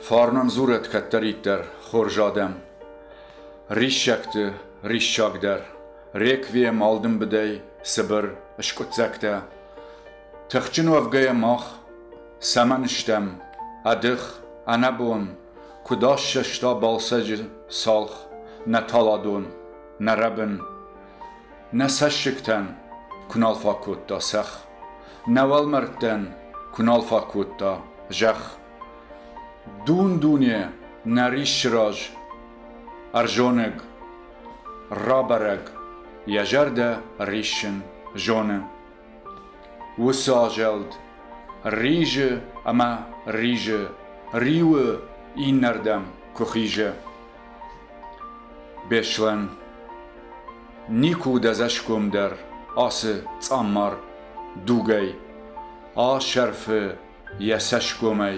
Фарнам дзурӕт кӕддӕриддӕр хорз адӕм. Риссӕгты риссагдӕр, реквием алдымбыдӕй цыбыр скъуыддзӕгтӕ. Тыхджын уӕвгӕйӕ мах цӕмӕн стӕм ӕдых, ӕнӕбон, куыд ассӕста Балсӕджы цалх нӕ таладон, нӕ рӕбын. Нӕ цӕссыгтӕн куы нал фӕкодта цӕх, нӕ уӕлмӕрдтӕн куы нал фӕкодта зӕхх. Дун-дуне нӕ риссы раз ӕрзонӕг, рабӕрӕг, йӕ зӕрдӕ риссын зоны. Уыцы азӕлд ризы ӕмӕ ризы, риуы иннӕрдӕм куы хизы. Беслӕн никуы уыд ӕдзӕсгом дӕр ацы цъаммар дугӕй, асӕрфы йӕ цӕсгомӕй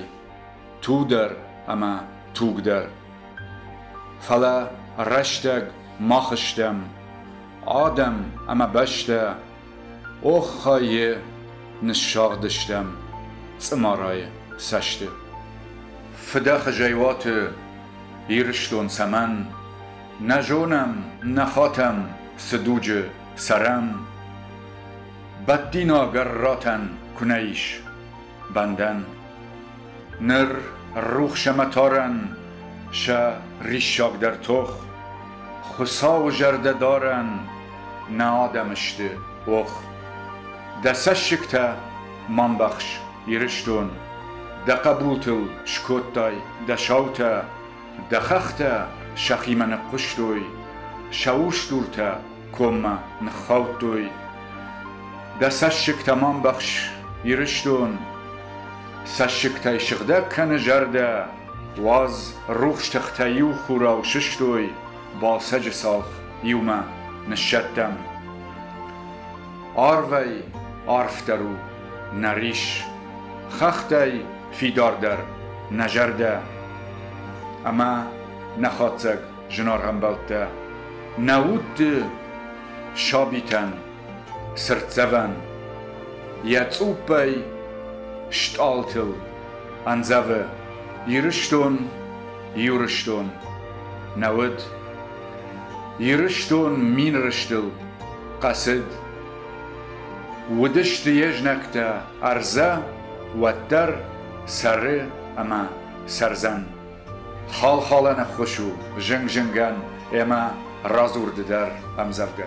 тудӕр ӕмӕ тугдӕр. Фӕлӕ рӕстӕг мах стӕм адӕм ӕмӕ бӕстӕ, оххайы ныссагъдыстӕм цъымарайы цӕсты. Фыдӕхызӕй уаты Ирыстон цӕмӕн? Нӕ зонӕм, нӕ хатӕм цы дуджы цӕрӕм. Бадтина гӕрратӕн кунӕ'ис бӕндӕн, Ныр рухс ӕмӕ тарӕн сӕ риссагдӕр тох, Хуыцауы зӕрдӕдарӕн нӕ адӕмы сты ох. Дӕ цӕссыгтӕ ма мбӕхс, Ирыстон, дӕ хъӕбултыл скодтай дӕ саутӕ, Дӕ хӕхтӕ сӕхимӕ ныхъхъуыстой, сӕ устуртӕ коммӕ ныххаудтой. Дӕ цӕссыгтӕ ма мбӕхс, Ирыстон! Цӕссыгтӕй сыгъдӕг кӕны зӕрдӕ, уадз, рухс тыхтӕ иу хурау сыстой Балсӕджы цалх иумӕ ныссӕттӕм. Арвӕй арфдӕр у нӕ рис, хӕхтӕй фидардӕр, нӕ зӕрдӕ ӕма нӕхуӕцӕг зынаргъӕмбӕлттӕ, нӕ удты сабийтӕн, цыртдзӕвӕн йӕ цъуппӕй стъалтыл андзӕвы Ирыстон, Ирыстон, нӕ уд. Ирыстон мин рыстыл хъӕцыд Уыдысты йе знӕгтӕ ӕрдзӕ, уӕддӕр, сӕры ӕмӕ сӕрдзӕн. Хал-халӕн ӕххуыс у зынг-зынгӕн ӕмӕ радзурды дӕр ӕмдзӕвгӕ.